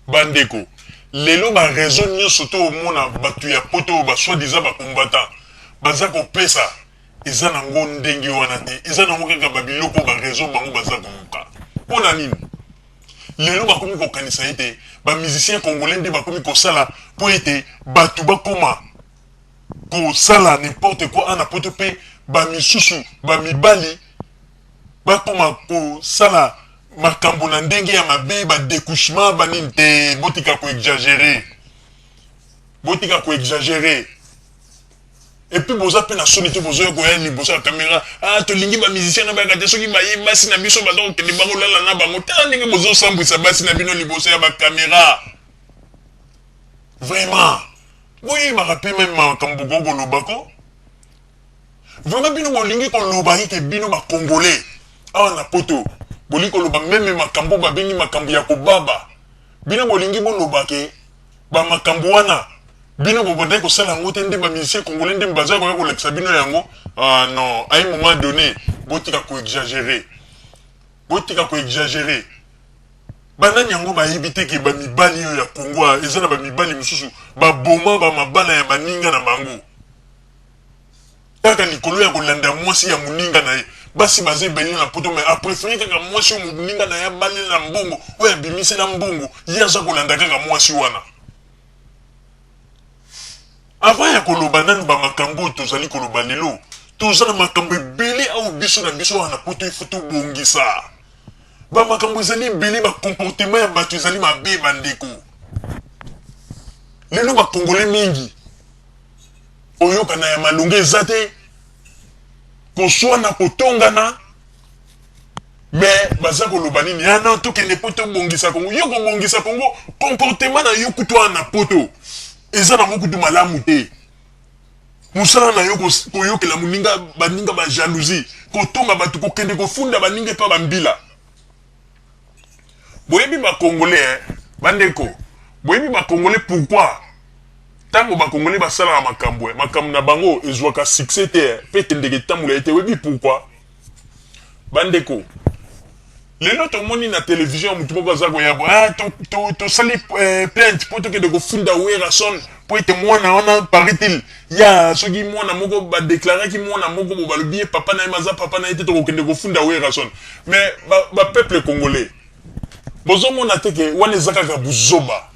Ba ndeko, lelo ba raison nionso to omona batu ya poto oyo ba soit disant ba combattants baza ko pesa eza na ngo ndenge wana te, eza na ngo kaka ba biloko oyo ba raison bango baza ko luka. Pona nini lelo ba komi ko kanisa ete ba musiciens congolais nde ba komi ko sala po ete batu ba koma ko sala n'importe quoi awa na poto pe ba misusu ba mibali Bakoma ko sala makambo na ndenge ya mabe ba decouchement ba nini te botika ko exagere botika ko exagere et puis boza pe na soni te bozo ya koya liboso ya camera ah tolingi ba musiciens na bayaka te soki baye basi na biso baza kokende bango lala na bango tala ndenge bozo sambwisa basi na bino liboso ya ba camera vraiment boyebaka pe meme makambo bokoki kolobako Vraiment bino bolingi koloba ete bino ba congolais awa na poto bolingi koloba meme makambo oyo babengi makambo ya kobaba bino bolingi boloba ke ba makambo wana bino bobandaki kosala yango te nde ba musiciens congolais nde baza koya kolakisa bino yango ah non a un moment donne botika ko exagere botika ko exagere banani yango bayebi te ke ba mibali oyo ya congo eza na ba mibali mosusu baboma ba mabala ya baninga na bango Kaka likolo ya kolanda mwasi ya muninga na ye. Basi baza ebele na poto mais a preferer kaka mwasi oyo muninga na ye abalela mbongo, oyo abimisela mbongo, ye aza kolanda kaka mwasi wana. Avant ya koloba nanu ba makambu oyo tozali koloba lelo, toza na makambu ebele awa biso na biso awa na poto il faut tobongisa. Ba makambu ezali ebele, ba comportement ya batu ezali mabe ba ndeko. Lelo ba congolais mingi. Koyokana ya malonga eza te, koswana, kotongana mais baza koloba nini ah non tokende po tobongisa Congo yo kobongisa Congo comportement na yo kutu wana na poto eza nango kutu malamu te mosala na yo koyokela moninga baninga ba jalousie kotonga bato kokende kofunda baninga epa bambila Boyebi ba congolais eh ba ndeko boyebi ba congolais pourquoi tango ba congolais ba salaka makambu eh makambu na bango ezuaka succès te eh pe ekendeke etambola ye te oyebi pourquoi ba ndeko lelo tomoni na television mutu moko aza koya bo ah to to tosali eh, plainte po tokende kofunda Werrason po ete mwana wana paraît-il Ya soki mwana moko ba declaraki mwana moko bo balobi ye papa naye mais aza papa naye te toko kende kofunda werrason mais ba ba peuple congolais bozo mona te ke wana eza kaka buzoba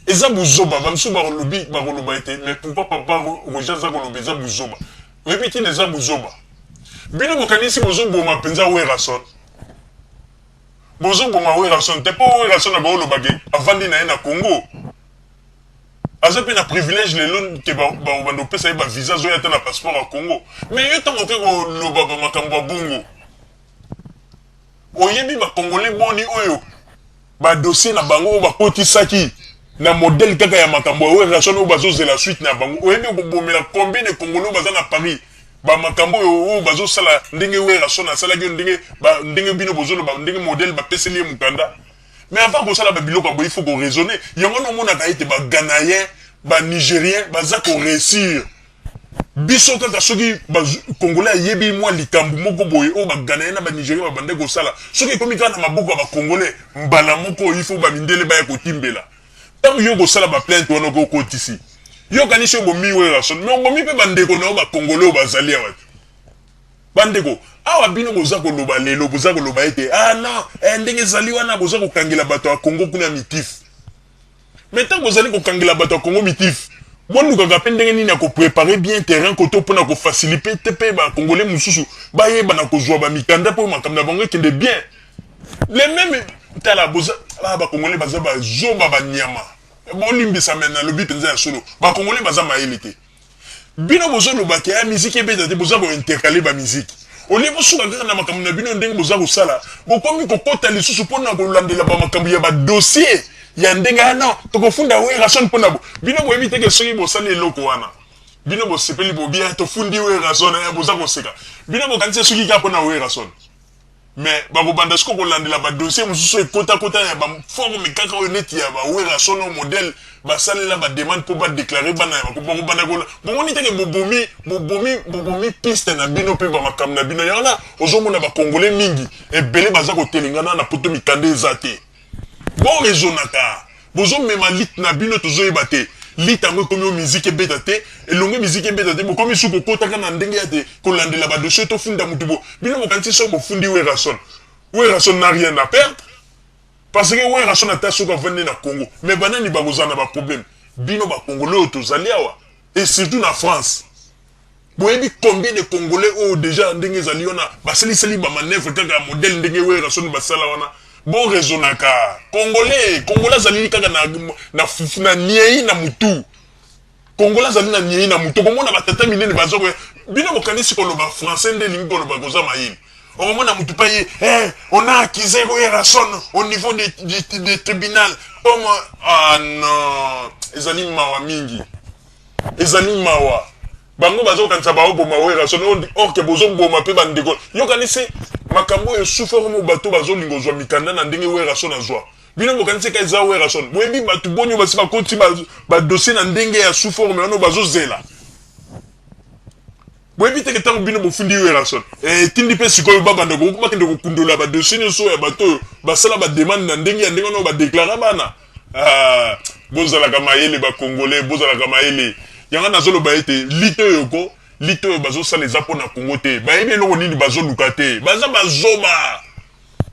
eza buzoba ba misusu bako lobi bako loba ete mais pourquoi papa Roger aza koloba eza buzoba oyebi tina eza buzoba bino bokanisi bozo boma penza werrason bozo boma werrason te po werrason abako loba ke avandi naye na congo Aza pe na privilège lelo te ba banda ko pesa ye ba visa azo ya ata na passeport ya Congo mais yo tango oke ko loba ba makambo ya bongo oyebi ba congolais boni oyo ba dossier na bango oyo ba koti saki na modèle kaka ya makambo ya Werrason oyo bazo zela suite na bango oyebi oko bomela combien de congolais oyo baza na Paris ba makambo oyo oyo bazo sala ndenge Werrason asalaki oyo ndenge ba ndenge bino bozo loba ndenge modèle ba peseli ye mukanda Mais avant kosala ba biloko ya boye il faut ko raisonner. Yango wana omonaka ete ba Ghanaien, ba Nigerien baza ko reussir. Biso kaka soki ba Congolais ayebi mwa likambu moko boye oyo ba Ghanaien na ba Nigerien ba bandaki kosala, soki ekomi kaka na maboko ya ba Congolais, mbala moko il faut ba mindele baya kotimbela. Tango yo okosala ba plainte wana okoki okotisi. Yo okanisi obomi Werrason mais obomi pe ba ndeko na yo ba Congolais oyo bazali awa te. Ba ndeko, awa bino boza ko loba lelo, boza ko loba ete ah non eh ndenge ezali wana boza ko kangela bato ya Congo kuna mitif. Mais tango bozali ko kangela bato ya Congo mitif, bo lukaka pe ndenge nini ya ko preparer bien terrain koto pona ko facilipete pe ba Congolais mosusu ba yeba na kozua ba mikanda po makambo na bango ekende bien. Le meme, tala boza, ah ba Congolais baza ba zoba ba nyama. Bo limbisa mais na lobi penza ya solo. Ba Congolais baza mayele te. Bino bozo loba ke ah musique ebeta te boza ko intercaler ba musique au lieu bosuka kaka na makambo na bino ndenge boza kosala bokomi kokota lisusu pona kolandela ba makambo ya ba dossier ya ndenge ah non tokofunda werrason pona bo bino boyebi te ke soki bosali eloko wana bino bosepeli bo bien tofundi werrason eh boza koseka bino bokanisi esuki kaka pona werrason Mais bakobanda sikoyo kolandela ba dossiers mosusu oyo ekota kota ya ba formes kaka oyo neti ya ba Werrason oyo modèle basalela ba demandes mpo ba declarer bana ya ba bakobanda ko bomoni te que bobomi bobomi bobomi piste na bino mpe ba makambo na bino yango wana ozomona ba congolais mingi ebele baza kotelengana na poto mikanda eza te. Bo raisonnaka bozo mema lit na bino tozo yeba te lit yango ekomi oyo musique ebeta te elongwe musique ebeta te bokomi su kokota kaka na ndenge ya te kolandela ba dossier to funda mutu bo bino bokanisi soki bofundi Werrason Werrason n'a rien à perdre parce que Werrason ata soki avandi na Congo mais banani bakozala na ba problème bino ba congolais oyo tozali awa et surtout na France Boyebi combien de congolais oyo dejà na ndenge ezali wana basiliseli ba manœuvres kaka ya modèle ndenge Werrason basala wana? Bo raisonnaka. Congolais, congolais azalili kaka na na fufu na nieyi na mutu. Congolais azali na nieyi na mutu. Okomona ba tata minene baza koya bino bokanisi koloba français nde elingi koloba koza mayele? Okomona mutu pa ye eh on a accuse Werrason au niveau de de tribunal comme ah non ezali mawa mingi. Ezali mawa bango bazo kanisa bao boma werrason or que bozo boma pe ba ndeko yo kanisi makambo oyo esufra vraiment bato bazo linga ozua mikanda na ndenge werrason azua bino bokanisi ka eza werrason boyebi bato boni oyo basi bakoti ba dossier na ndenge ya sous forme wana oyo bazo zela Boyebi te ke tango bino bofundi Werrason, eh, etindi pe sik'oyo ba banda ko bakende ko kundola ba dossiers nionso oyo ya bato oyo ba sala ba demandes na ndenge ya ndenge wana oyo ba declara bana? Ah, bozalaka mayele ba Congolais, bozalaka mayele. Yango wana nazo loba ete lutte oyo ko, lutte oyo bazo sala eza pona Congo te. Bayebi eloko nini bazo luka te. Baza ba zoba!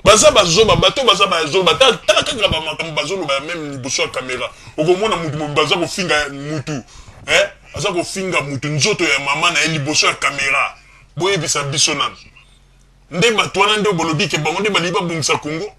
Baza ba zoba bato baza ba zoba tala tala kaka ba makambo bazo loba ya meme liboso ya camera okomona mutu mobe baza kofinga mutu eh aza kofinga mutu nzoto ya maman naye liboso ya camera boyebisa biso nanu nde bato wana nde bolobi ke bango nde balingi babongisa congo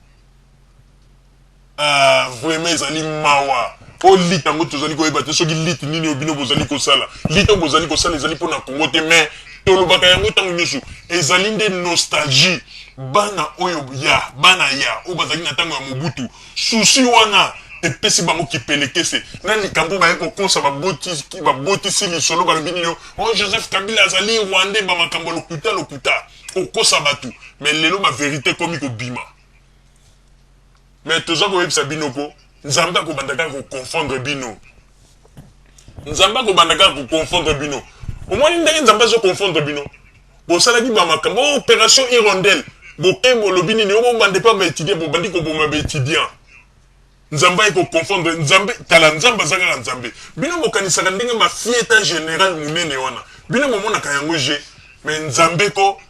Ah vraiment ezali mawa po lutte yango tozali koyeba te soki lutte nini oyo bino bozali kosala. Lutte oyo bozali kosala ezali po na Congo te mais tolobaka yango tango nionso ezali nde nostalgie bana oyo ya bana ya oyo bazalaki na tango ya Mobutu souci wana epesi bango kipelekese na likambo baye kokosa baboti babotisi lisolo balobi nini yo oh Joseph Kabila azali Rwandais ba makambo ya lokuta lokuta kokosa batu mais lelo ba verite ekomi kobima. Mais toza koyebisa bino ko Nzambe akobanda kaka ko confondre bino. Nzambe akobanda kaka ko confondre bino. Omoni ndenge Nzambe azo confondre bino. Bosalaki ba makambo oh, operation hirondelle. Bokembo lobi nini obanda epa ba étudiants bobandi koboma ba étudiants. Nzambe aye ko confondre Nzambe kala Nzambe aza kaka Nzambe bino bokanisaka ndenge mafia eta general munene wana bino bomonaka yango je mais Nzambe ko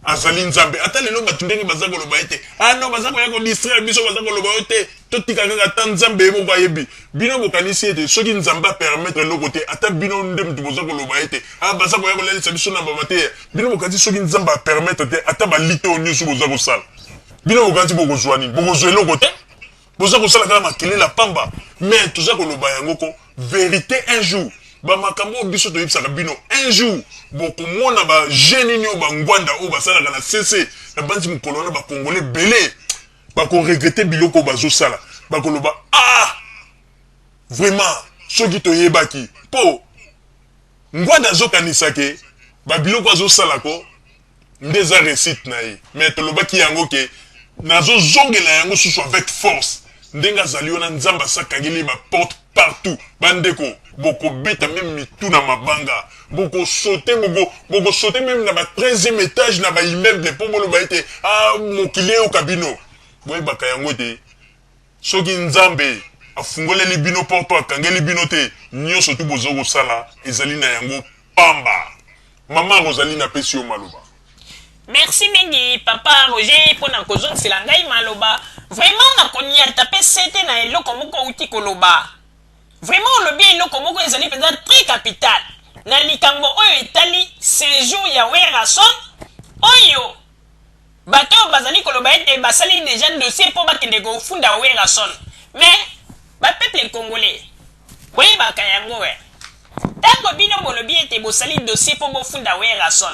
azali Nzambe ata lelo batu ndenge baza koloba ete ah non baza koya ko distraire biso baza koloba yo te totika kaka ata Nzambe ye moko ayebi bino bokanisi ete soki Nzambe a permettre eloko te ata bino nde mutu boza koloba ete ah baza koya kolalisa biso na bamateya bino bokanisi soki Nzambe a permettre te ata ba lite oyo nioso boza kosala bino bokanisi bokozua nini bokozua eloko te boza kosala kaka makelele ya pamba mais toza koloba yango ko verite un jour bamakambo oyo biso toyebisaka bino un jour bokomona baje nini oyo bangwanda oyo basalaka na sese na banzi mokolo wana bakongole ebele bakoregrete biloko oyo bazosala bakoloba ah vraiment soki toyebaki mpo ngwanda azokanisake babiloko azosalako nde eza reussite na ye mais tolobaki yango ke nazo zongela yango susu avec force ndenge azali wana nzambe asi akangeli ye ba porte partout ba ndeko boko beta meme mitu na mabanga boko saute boko boko saute meme na ba 13e etage na ba immeuble po boloba ete ah mokili eyoka bino boyebaka yango ete Soki Nzambe afungoleli bino porte oyo akangeli bino te, nionso tout bozali kosala ezali na yango pamba. Maman Rosaline apesi yo maloba. Merci mingi papa Roger pona kozongisela ngai maloba, vraiment nakoniata pe sete na eloko moko owuti koloba. Vraiment olobi eloko moko ezali penza très capital na likambo oyo etali sejour ya Werrason oyo, Bato oyo bazali koloba ete basali dejà dossier po bakende kofunda Werrason mais ba peuple congolais boyebaka yango eh tango bino bolobi ete bosali dossier po bofunda Werrason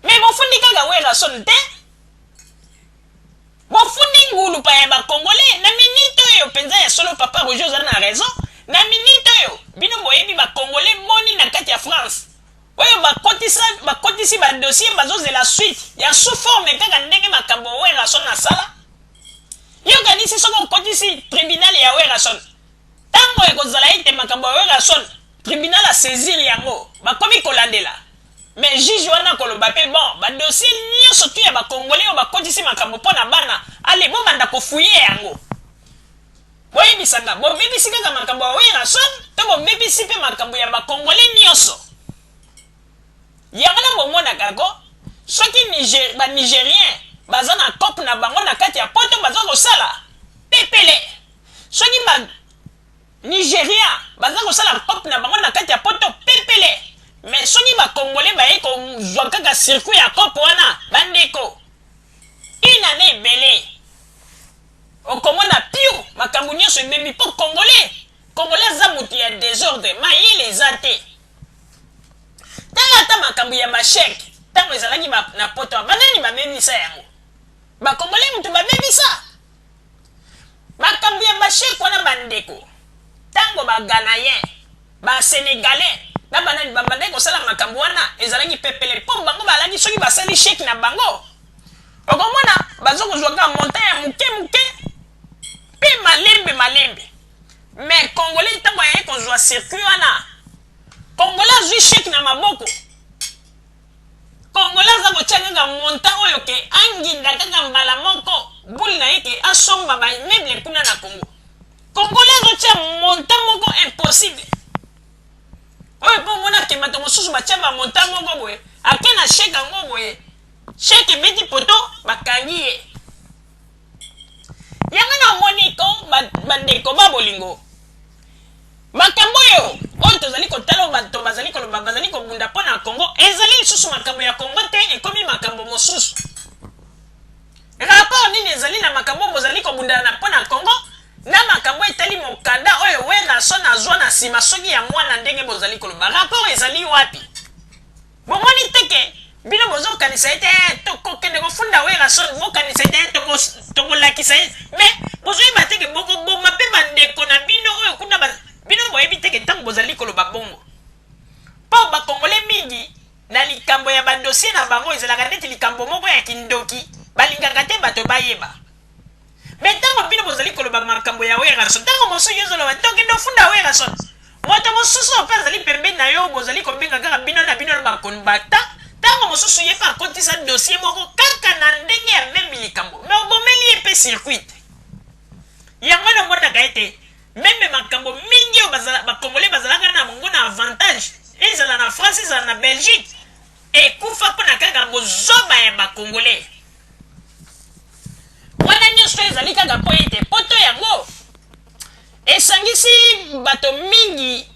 mais bofundi kaka Werrason te bofundi ngulupa ya ba congolais na minute oyo penza ya solo papa Roger oza na raison na minute oyo bino boyebi ba congolais boni na kati ya France Oyo bakotisa bakotisi ba dossier bazo zela suite ya sous forme kaka ndenge makambo Werrason asala yo okanisi soki okotisi tribunal ya Werrason tango ekozala ete makambo ya Werrason tribunal a saisir yango bakomi kolandela mais juge wana akoloba pe bon ba dossier nionso tout ya ba congolais oyo bakotisi makambo pona bana ale bobanda ko fouiller yango Boyebisa nga, bobebisi kaka makambo ya Werrason to bobebisi pe makambo ya ba congolais nioso? Yango na bomonaka ko soki Niger ba Nigeriens baza na coop na bango na kati ya poto baza kosala pepele soki ba Nigerian baza kosala coop na bango na kati ya poto pepele mais soki ba congolais baye kozua kaka circuit ya coop wana ba ndeko une annee ebele Okomona piu makambu nionso ebebi po congolais congolais aza mutu ya desordre mayele eza te tala ata makambu ya ba chèque tango ezalaki ba na poto ba nani ba bebisa yango ba congolais mutu ba bebisa makambu ya ba chèque wana ba ndeko tango ba ghanaiens ba senegalais na ba nani ba bandaki kosala makambu wana ezalaki pepele po bango balaki soki basali chèque na bango Okomona baza kozua kaka montant ya muke muke pe malembe malembe mais congolais tango aye kozua circuit wana congolais azui cheque na maboko congolais aza kotia kaka montant oyo ke anginda kaka mbala moko boule na ye ke asomba ba immeuble kuna na congo congolais azotia montant moko impossible oyo po omona ke bato mosusu batia ba montant moko boye ake na cheque yango boye Cheque ebeti poto bakangi ye. Yango na omoni ko bandeko ba bolingo makambo oyo oyo tozali kotala oyo bato bazali koloba bazali kobunda mpo na Congo ezali lisusu makambo ya Congo te ekomi makambo mosusu. Rapport nini ezali na makambo oyo bozali kobundana na mpo na Congo na makambo etali mokanda oyo Werrason azwa na nsima soki ya mwana ndenge bozali koloba rapport ezali wapi? Bomoni te ke bino bozo kanisa ete eh toko kende ko funda Werrason bo kanisa ete eh toko toko lakisa ye mais bozo yeba te ke boko boma pe ba ndeko na bino oyo kuna ba bino boyebi te ke tango bozali koloba bongo po ba congolais mingi na likambo ya ba dossier na bango ezalaka neti likambo moko ya kindoki balingaka te bato bayeba. Mais ntango bino bozali koloba makambo ya Werrason, ntango mosusu yo ozoloba nde okende ofunda Werrason. Moto mosusu oyo mpe azali pembeni na yo oyo bozali kobenga kaka bino na bino na ba conbactants, ntango mosusu ye mpe akotisa dossier moko kaka na ndenge ya meme likambo, mais obomeli ye mpe circuit. Yango wana omonaka ete meme makambo mingi oyo ba congolais bazalaka na yango na avantage, ezala na France, ezala na Belgique, Ekufa pona kaka bozoba ya ba congolais. Wana nioso ezali kaka po ete poto yango esangisi bato mingi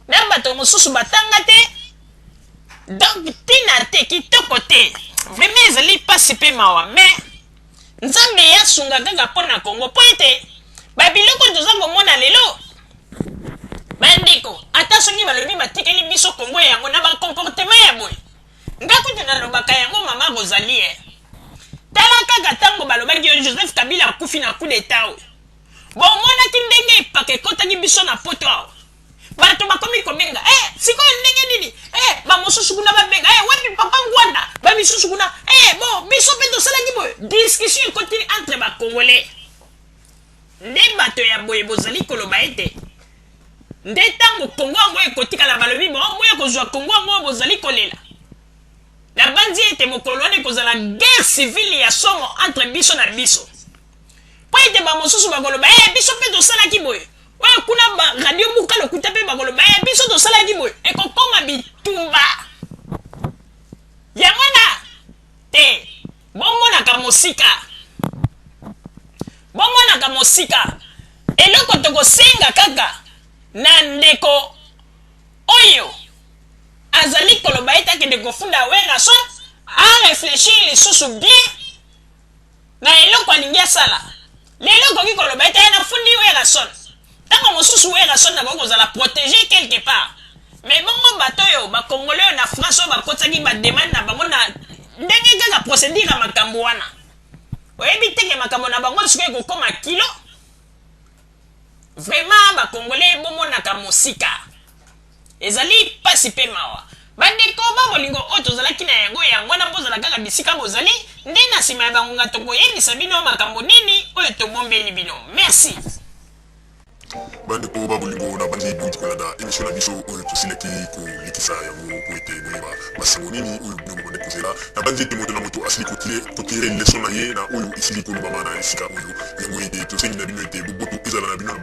na bato mosusu batanga te donc tina te kitoko te vraiment ezali pasi pe mawa mais Nzambe ya sunga kaka po na Congo po ete ba biloko oyo toza komona lelo ba ndeko ata soki balobi batikeli biso Congo yango na ba comportement ya boye nga kutu na lobaka yango maman Rosalie tala kaka tango balobaki yo Joseph Kabila akufi na coup d'etat oyo bomonaki ndenge epak ekotaki biso na poto awa Bato bakomi kobenga eh sikoyo ndenge nini eh ba mosusu kuna babenga eh wapi papa Ngwanda ba misusu kuna eh bo biso pe tosalaki boye discussion ekotili entre ba congolais nde bato ya boye bozali koloba ete nde ntango kongo yango ekotikala balobi boya kozwa kongo yango bozali kolela nabanzi ete mokolo wana ekozala guerre civile ya somo entre biso na biso mpo ete bamosusu bakoloba e eh, biso mpe tosalaki boye Oyo kuna ba radio buka lokuta pe bakoloba eh biso tosalaki boye ekokoma bitumba yango wana te bomonaka mosika bomonaka mosika eloko tokosenga kaka na ndeko oyo azali koloba ete akende kofunda werrason areflechir lisusu bien na eloko alingi asala. Lelo okoki koloba ete, Nafundi Werrason. Ntango mosusu Werrason akoki kozala protege quelque part. Mais bongo bato oyo, ba Congolais oyo na France oyo bakotisaki ba demandes na bango na. Ndenge kaka procedure ya makambo wana. Oyebi te que makambo na bango sikoyo ekokoma kilo? Vraiment ba congolais bo monaka mosika ezali pasi pe mawa ba ndeko ba bolingo oyo tozalaki na yango yango wana bozala kaka bisika bozali nde na sima ya ba ngonga toko yebisa bino makambo nini oyo tobombeli bino merci. Ba ndeko ba bolingo na bandi bowuti kolanda emission na biso oyo tosilaki kolekisa yango po ete boyeba. Masengo nini oyo bino bobandi kozela? Nabanzi ete moto na moto asili kotire leso na ye na oyo esili kolobama na esika oyo. Yango ete tosengi na bino ete boboto ezala na bino na bango.